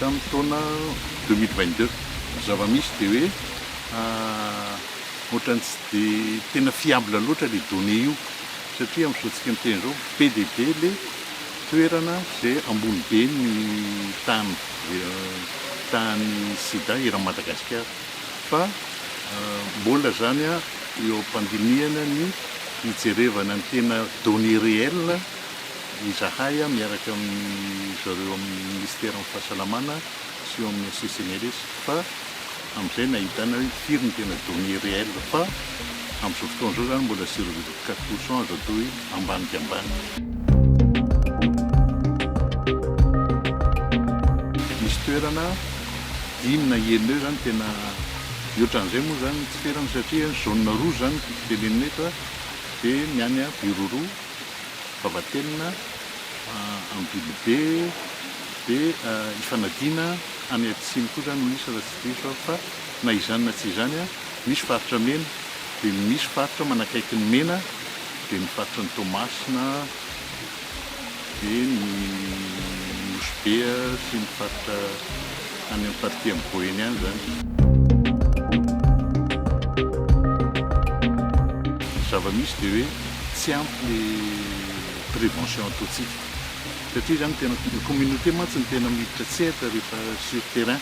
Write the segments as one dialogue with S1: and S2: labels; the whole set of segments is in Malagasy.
S1: tamin'ny taona deux mille vingt deux. Ny zava-misy dia hoe ohatran'ny tsy dia tena fiable loatra ilay donnée io satria amin'izao tsika miteny izao be dia be ilay toerana izay ambony be ny tahan'ny tahan'ny sida eran'i Madagasikara fa mbola izany eo am-pandinihana ny hijerevana ny tena donnée réelle. Izahay miaraka amin-dry zareo amin'ny Minisiteran'ny Fahasalamana sy eo amin'ny HCCNRS fa amin'izay no ahitana hoe firy no tena données réelles fa amin'izao fotoana izao izany mbola zéro virgule quatre pour cent azo atao hoe ambany dia ambany. Misy toerana dimy na enina eo izany tena mihoatra an'izay moa izany ny tsy ferana satria ny zone roa izany tiako tenenina eto dia ny any Birorò Vavatenina Ambilobe dia ifanadiana any atsimo koa izany no misy raha tsy diso aho fa na izany na tsy izany misy faritra mena dia misy faritra manakaiky ny mena dia ny faritra ny Toamasina dia ny Nosy be sy ny faritra Any amin'ny partie amin'ny boyny any izany. Ny zava-misy dia hoe tsy ampy le prévention ataontsika. Satria izany tena, ny communauté mantsy no tena miditra tsehatra rehefa sur terrain.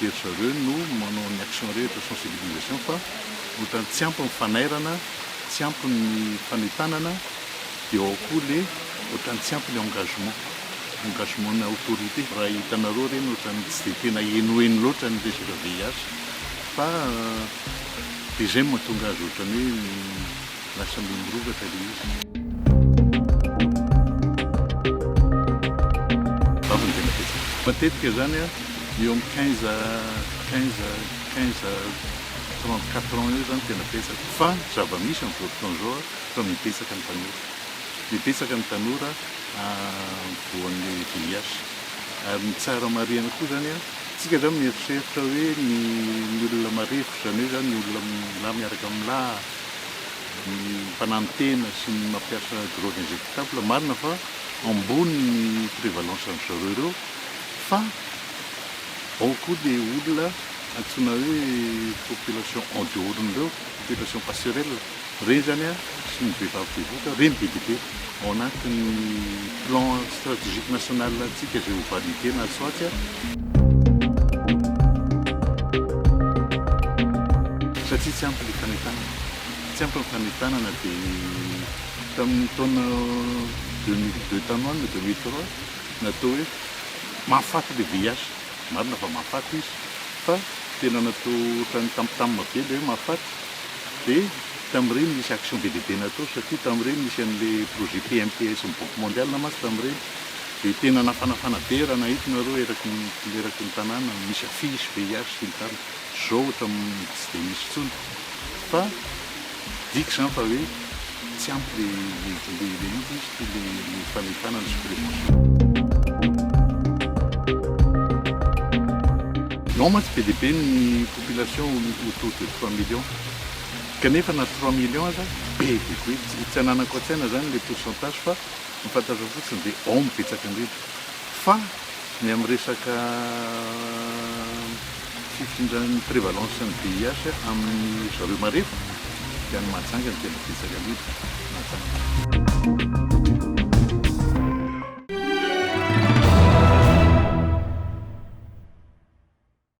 S1: Dia ry zareo no manao ny action rehetra, sensibilisation, fa ohatran'ny tsy ampy ny fanairana, tsy ampy ny fanentanana. De ao koa le otrany tsy ampy le engagement, engagement na autorité. Raha hitanareo reny otrany tsy de tena henoheno loatra ny resaka VIH fa de zay no mahatonga azy otrany hoe lasa mbe mirongatra le izy. Vavy no tena betsaka. Matetika zany eo amin'ny quinze à quinze, quinze à trente quatre ans eo zany tena betsaka fa zava-misy amin'izao fotoana izao. Fa mibetsaka ny tanora. Mibetsaka ny tanora voan'ny VIH. Ary ny tsara marihina koa izany an, isika izany mieritreritra hoe ny olona marefo, izany hoe izany ny olona milahy miaraka amin'ny lahy, ny mpananontena sy ny mampiasa drogue injectable, marina fa ambony ny prévalence an-dry zareo ireo, fa ao koa dia olona antsoina hoe population en dehors-n'ireo, population passerelle. Ireny izany sy ny vehivavy bevoka, ireny dia bebe ao anatin'ny plan stratégique national antsika izay ho valide na tsy atsy, satria tsy ampy ny fanentanana, tsy ampy ny fanentanana dia tamin'ny taona deux mille deux tany ho any na deux mille trois natao hoe mahafaty ilay VIH, marina fa mahafaty izy fa tena natao ohatran'ny tambitamina be ilay hoe mahafaty, Dia tamin'ireny nisy action be dia be natao satria tamin'ireny nisy an'ilay projet PMTS ny banque mondiale mantsy tamin'ireny dia tena nafanafana be raha nahita ianareo eraky ny eraky ny tanàna misy affiche, VIH sy ny tariny. Izao ohatran'ny tsy dia misy intsony fa midika izany fa hoe. Tsy ampy le le le inona moa izy ity le le fanefana ny suppléments. Non mantsy be dia be ny population autour de trois millions kanefa na trois millions aza be dia be tsy ananako an-tsaina zany le pourcentage fa ny fantatrako fotsiny dia ao no betsaka indrindra fa Ny amin'ny resaka fifindran'ny prévalence ny VIH amin'ny ry zareo marefo dia any Mahajanga no tena betsaka indrindra, Mahajanga.